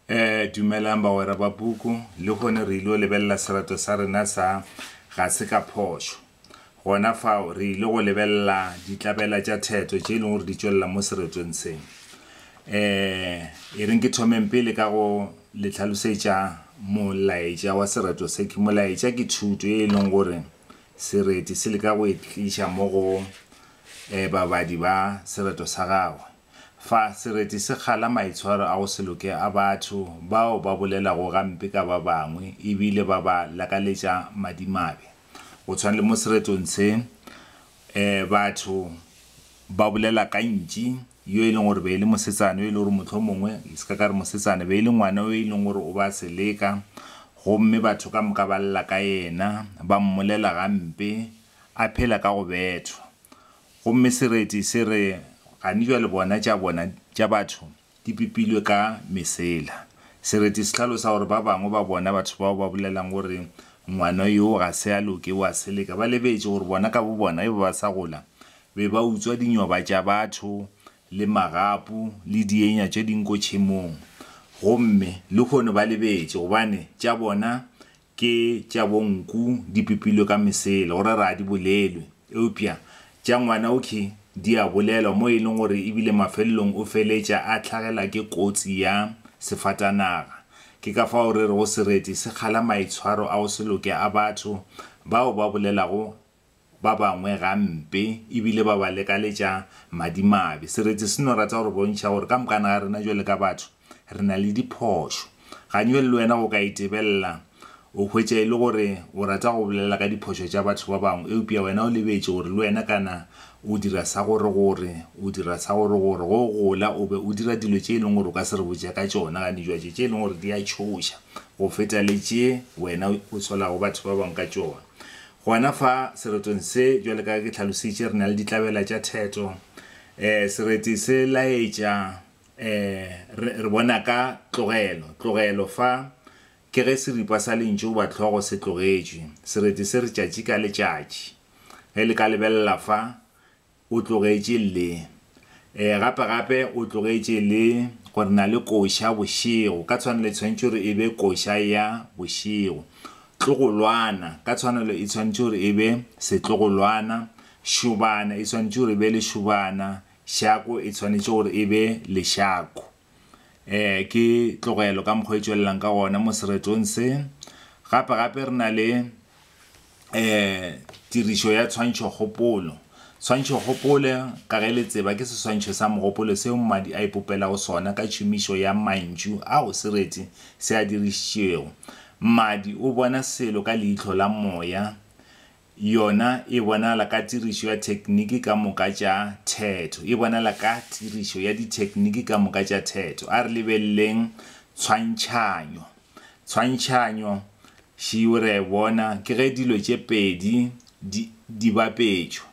Eh, dumelang bagwera ba puku, le hone re il'o lebelela serato sa rena sa Ga se ka phošo. Gona fao, re ile go lebelela ditlabela tša theto tše e leng gore di tšwelela mo seretong se. Eh, e reng ke thomeng pele ka go le tlhalosetša molaetša wa serato se. Ke molaetša ke thuto ye e leng gore sereti se leka go e tliša mo go eh, babadi ba serato sa gagwe. Fa sereti se kgala maitshwaro a go se loke a batho bao ba bolelago gampe ka ba bangwe e bile ba ba lakaletša madimabe, go tshwana le mo seretong se, batho ba bolela ka ntši yo e leng gore be e le mosetsana yo e lego gore mohlomongwe ke se ka ka re mosetsana, be e le ngwana yo e leng gore o ba seleka gomme batho ka moka ba lla ka yena, ba mmolela gampe, a phela ka go bethwa. Gomme sereti se re, Gane bjale bona tša bona tša batho di pipilwe ka mesela. Sereti se hlalosa gore ba bangwe ba bona batho bao ba bolelang gore ngwana yoo ga se a loke o a seleka ba lebetše gore bona ka bobona ge ba ba sa gola be ba utswa dinyoba tša batho le magapu le dienya tše dinko tšhemong gomme lehono ba lebetše gobane tša bona Ke tša bonku di pipilwe ka mesele go rera a di bolelwe, eupša tša ngwanaukhi di a bolelwa, mo e leng gore e bile mafelelong o feletša a hlagelwa ke kotsi ya sefatanaga. Ke ka fao re rego sereti se kgala maitshwaro a go se loke a batho bao ba bolelago ba bangwe gampe e bile ba ba lekaletša madimabe. Seretse se no rata go re bontšha gore ka mokana ga rena bjalo ka batho re na le diphošo. Ganywe le wena o ka e tebelela o hwetša e le gore o rata go bolela ka diphošo tša batho ba bangwe eupša wena o lebetše gore le wena kana o dira sa goregore, o dira sa goregore. Ge o gola o be o dira dilo tše e leng gore o ka se re botše ka tšona gane bjatše tše e leng gore di a tšhoša go feta le tše wena o tswalago batho ba bangwe ka tšona. Gona fa seretong se, bjalo ka ge ke hlalositše, re na le ditlabela tša theto. E, sereti se laetša. E, re, re bona ka tlogelo, tlogelo fa, ke ge seripa sa lentšu goba tlhogo se tlogetšwe. Sereti se re tšatši ka letšatši. Ge le ka lebelela fa, o tlogetše le, e, gape-gape o tlogetše le, gore na le koša bošego, ka tshwanelo e tshwanetše gore e be koša ya bošego. Tlogolwana, ka tshwanelo e tshwanetše gore e be setlogolwana. Šobana, e swanetše gore e be lešobana. Šako, e tshwanetše gore e be lešako. E, ke tlogelo ka mokgwa e tšwelelang ka gona mo seretong se. Gape gape re na le e, tirišo ya tshwantšhokgopolo. Tshwantšhokgopole ka ge le tseba ke seswantšho sa mogopolo seo mmadi a ipopelago sona ka tšhomišo ya mantšu ao sereti se a dirišitšego. Mmadi o bona selo ka leihlo la moya. Yona e bonala ka tirišo ya thekniki ka moka tša theto. E bonala ka tirišo ya dithekniki ka moka tša theto. A re lebeleleng tshwantšhanyo. Tshwantšhanyo, šio re a e bona, ke ge dilo tše pedi di, di bapetšwa.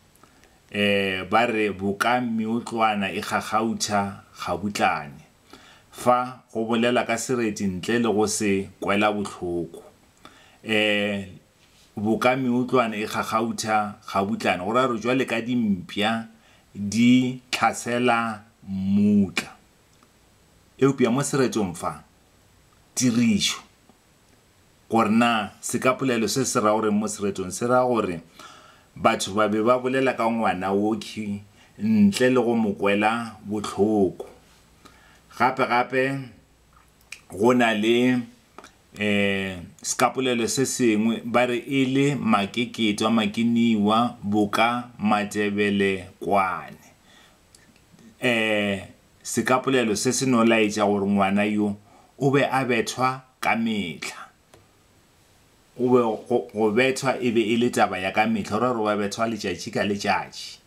E, ba re boka meotlwana e kgakgautha gabutlane. Fa, go bolela ka sereti ntle le go se kwela bohloko. E, boka meotlwana e kgakgautha gabutlana, go raya gore jwale ka dimpša di tlhasela mmutla. Eupša mo seretong fa, tirišo, gore na sekapolelo se se ra go reng mo seretong, se ra gore batho ba be ba bolela ka ngwana wokhwi ntle le go mo kwela bohloko. Gape-gape go na le Sekapolelo se sengwe ba re e le Makeketwa Makiniwa boka Matšebele kwane. Sekapolelo se se no laetša gore ngwana yo o be a bethwa ka mehla. O be, go bethwa e be e le taba ya ka mehla, go ra gore o be a bethwa letšatši ka letšatši.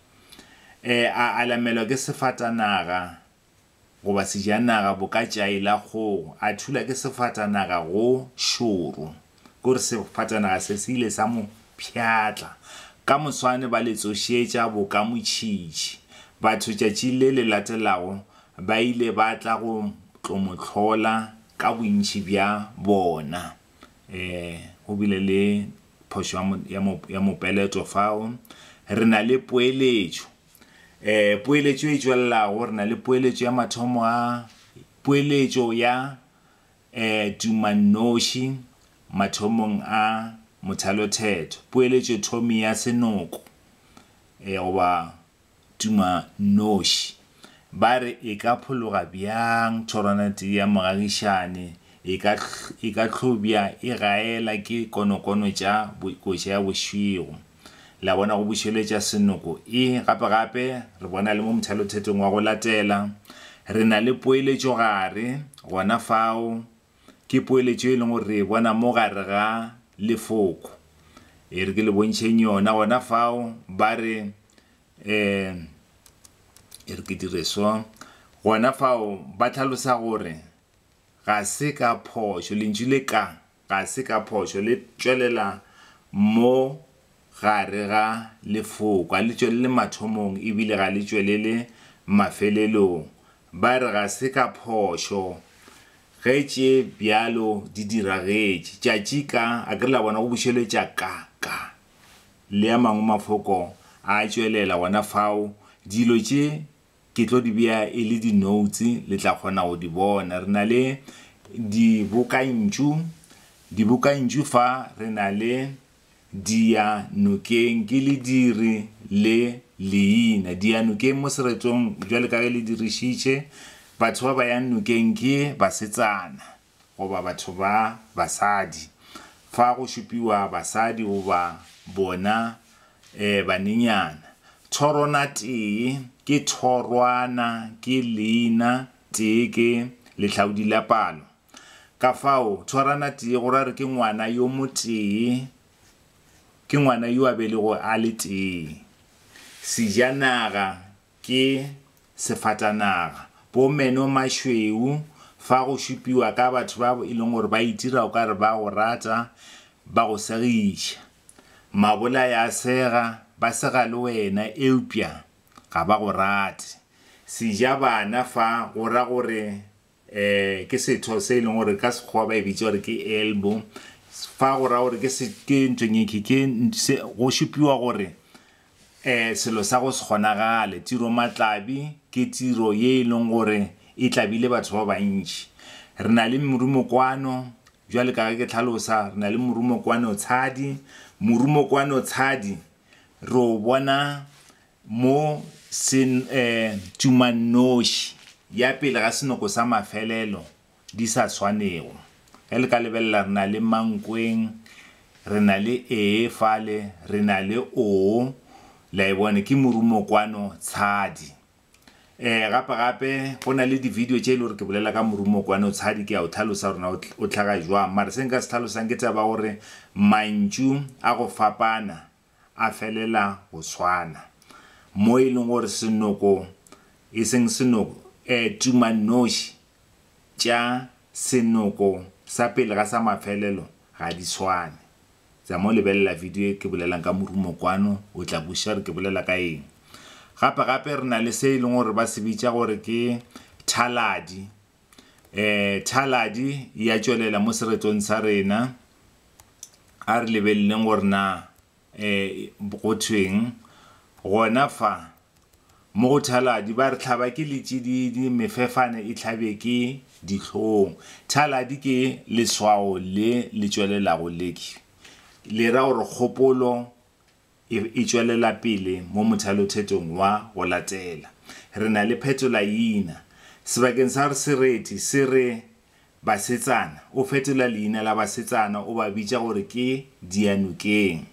A alamelwa ke sefatanaga Goba sejanaga bo ka tšai la kgogo, a thula ke sefatanaga go šoro. Ke gore sefatanaga se se ile sa mo pšhatla. Ka moswane ba le tsošetša bo ka motšhitšhi. Batho tšatšing le le latelago ba ile ba tla go tlo mo hlola ka bontši bja bona. E, go bile le phošo ya mo, ya mo, ya mopeleto fao. Re na le poeletšo. E, poeletšo e tšwelelago, re na le poeletšo ya mathomo a, poeletšo ya e, tumannoši mathomong a mothalothetho, poeletšo thomi ya senoko e, goba tumannoši. Ba re e ka phologa bjang thorwana tee ya mogagišane, e ka, e ka hlobja e gaela ke konokono tša koša ya bošego. Le a bona, go bušeletša senoko e. Gape, gape, re bona le mo mothalothetong wa go latela, re na le poeletšo gare, gona fao, ke poeletšo e leng gore re e bona mo gare ga Lefoko. E re ke le bontšheng yona, gona fao, ba re, um, e re ke dire so, gona fao, ba hlalosa gore ga se ka phošo, lentšu le ka. Ga se ka phošo le tšwelela mo gare ga lefoko. Ga le tšwelele mathomong e bile ga le tšwelele mafelelong. Ba re ga se ka phošo ge tše bjalo di diragetše. Tšatši ka, a ke re la bona go bušeletša ka, ka, le a mangwe mafoko a tšwelela gona fao. Dilo tše Ke tlo di bea e le dinoutse, le tla kgona go di bona. Re na le dibokantšu, dibokantšu fa re na le Dia nokeng, ke lediri le leina. Dia nokeng mo seretong, bjale ka ge le dirišitše, batho ba ba yang nokeng ke basetsana. goba batho ba basadi, fa go šupiwa basadi goba bona e banenyana. Thorona tee ke thorwana, ke leina tee ke lehlaodi la palo. Kafao thorana tee go ra gore ke ngwana yo motee, ke ngwana yo a belegogo a le tee. Sejanaga. Ke sefatanaga. Bo Menno Mashweu, fa go šupiwa ka batho ba e leng gore ba itira o ka re ba go rata, ba go segiša. Mabolai a sega, ba sega le wena eupša ga ba go rate. Sejabana fa go ra gore Ee, ke setho se e leng gore ka sekgowa ba e bitsa gore ke elbow. Fa go raya gore ke se ke ntonyekhi ke se go šupiwa gore eh selo sa go se kgonagale. Tiro matlabi ke tiro ye e leng gore e tlabile batho ba bantši. Re na le morumo kwano, jwale ka ge ke tlhalosa re na le morumo kwano tshadi. Morumo kwano tshadi re o bona Mo se tšumannoši ya pele ga senoko sa mafelelo di sa swanego. Ge le ka lebelela, re na le mankweng, re na le ee fale, re na le oo, la e bona, ke morumokwano tshadi. Um gape gape go na le di-video tše e le gore ke bolela ka morumokwano tshadi, ke a o tlhalosa gore na o tlhaga jwang. Mara se nka se tlhalosang ke taba ya gore mantšu a go fapana a felela go swana, mo e lego gore senoko, e seng senoko, eh, tumannoši tša senoko sa pele ga sa mafelelo ga di swane. Tsa mo lebelela video e ke bolelang ka morumo kwano, o tla kwešiša gore ke bolela ka eng. Gape-gape re na le se e lego gore ba se bitša gore ke thaladi, E, thaladi ya tšwelela mo seretong sa rena. A re lebeleleng gore na e, go thweng gona fa mo go thaladi. Ba re tlhaba ke letšididi, mefefane e tlhabe ke dihlong. Thaladi ke leswao le le tšwelelago leki le ra gore kgopolo e re e tšwelela pele mo mothalothetong wa go latela. Re na le phetolaina. Sebakeng sa gore sereti se re basetsana, o fetola leina la basetsana o ba bitša gore ke dianokeng.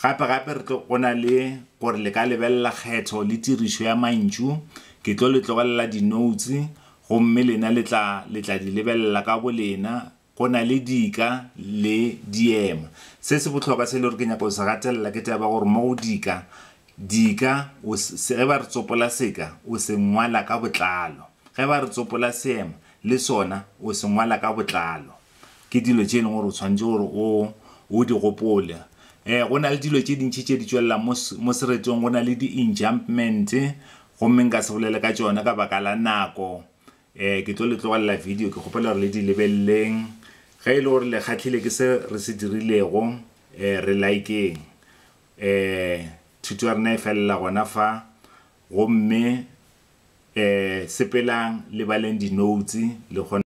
Gapegape re tlo go na le gore le ka lebelela kgetho le tirišo ya mantšu. Ke tlo le tlogelela dinoutse gomme lena le tla le tla di lebelela ka bolena Go na le dika le diema. Se se bohlokwa se e le gore ke nyaka go se gatelela ke taba ya gore mo go dika, dika o se, ge ba re tsopola seka, o se ngwala ka botlalo. Ge ba re tsopola seema, le sona o se ngwala ka botlalo. Ke dilo tše e leng gore o tshwanetse gore o, o di gopole. Ee, go na le dilo tše dintši tše di tšwelelang mo, mo seretong. Go na le di-enjambments, gomme nka se bolele ka tšona ka baka la nako. Eh, ke tlo le tlogelela video, ke kgopela gore le di lebelleng. Ge e le gore le kgahlile ke se re se dirilego, eh, re likeng. Eh, thuto ya rena e felela gona fa, gomme eh, sepelang le baleng di-notes le kgone.